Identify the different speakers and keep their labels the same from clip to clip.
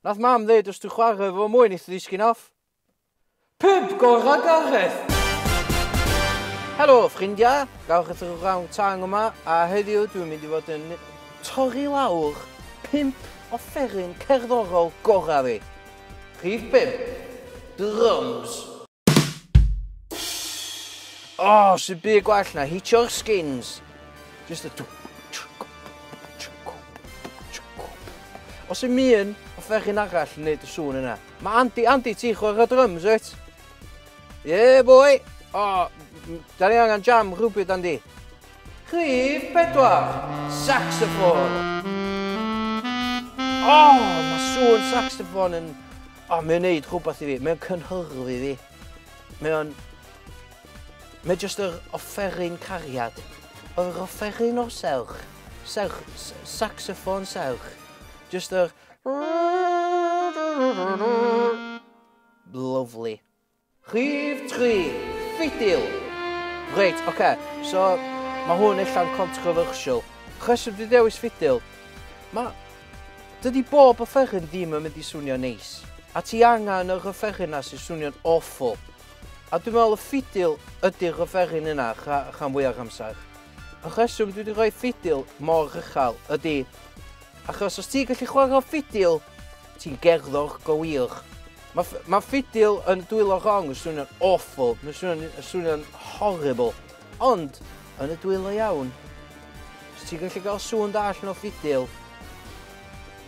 Speaker 1: Nath mam ddeud os dwi'n chwarae efo fo mwy neith o ddisgyn off. Pub gorau Gareth! Helo ffrindiau, gawch eich wrawn tang yma a heddiw dwi'n mynd i fod yn torri lawr pimp offeryn cerddorol gorau fi. Rhif 5, Drums. Oh, sy'n byd gwell na hitio'r skins. Just a... Os yw'n mi'n o ferchyn arall yn neud y sŵn yna. Mae Andy, Andy, ti chwer y drums, wyt? Yeah, boy! Oh, da ni angen jam rhywbryd, Andy. Rhyf pedwar, saxophone. Oh, mae sŵn saxophone yn O mae o'n neud rhywbeth i fi, mae o'n cynhyrfu fi. Mae o'n... Mae jyst yr offeryn cariad. Yr offeryn o'r serch. Serch, saxoffon serch. Jyst yr... Lyfli. Rhif tri, ffidil! Reit, ocê, so mae hwn ella'n controversial. Rheswm dwi dewis ffidil, mae... Dydy bob offeryn ddim yn mynd i swnio neis. A ti angen yr offeryn yna sy'n swnio'n awful. A dwi'n meddwl y ffidil ydy'r offeryn yna rha, rhan fwyaf amser. Y rheswm dwi wedi rhoi ffidil mor uchel ydy achos os ti'n gallu chwarae ffidil, ti'n gerddor go wir. Mae ma ffidil yn dwylo gong yn swnio'n awful, mae'n swnio'n swnio horrible. Ond, yn y dwylo iawn, os ti'n gallu cael sŵn da allan o ffidil,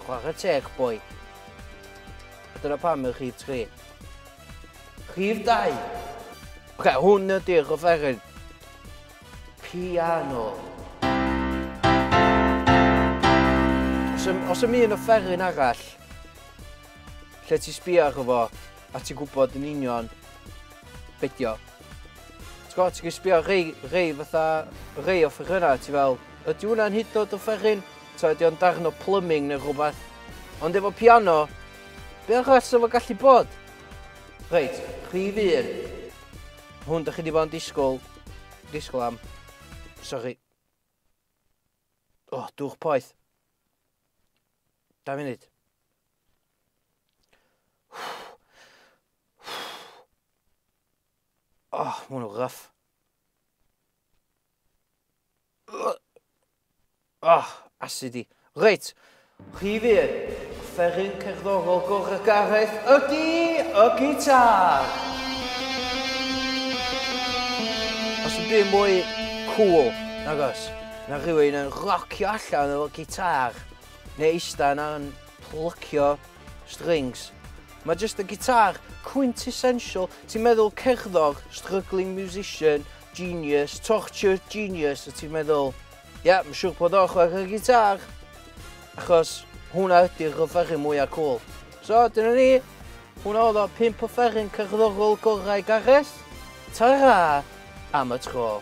Speaker 1: chwarae teg, boi. A dyna pam yw'ch chi tri. Rhif 2. Oce, hwn ydy'r offeryn. Piano. Os ym, os ym un offeryn arall, Lle ti sbio arno fo, a ti'n gwybod yn union be di o. Ti'n gwybod, ti'n sbio rei, rei fatha, rei o ffefrynnau, ti fel, ydy hwnna'n hyd yn oed yn fferin? Ta ydy o'n darn o plumbing neu rhywbeth? Ond efo piano, be arall sy'n fo gallu bod? Reit, prif un. Hwn, da chi di bod yn disgwyl, disgwyl am. Sorry. O, oh, dwch poeth. Dau funud. Oh, mae hwnnw gryff. Oh, asid i. Reit, chi fi, fferin cerddorol gorau gareth ydy y gitar. Os yn byd mwy cool, nagos, na rhywun yn rocio allan o'r gitar. Neu eista yna yn plycio strings. Mae jyst y gitar, quintessential, ti'n meddwl cerddor, struggling musician, genius, tortured genius, a ti'n meddwl, ie, yeah, mae'n siŵr bod o'n chwarae gitar, achos hwnna ydy'r offeryn mwyaf cool. So, dyna ni. Hwna oedd o pimp o fferin cerddorol gorau Gareth. Ta-ra am y tro.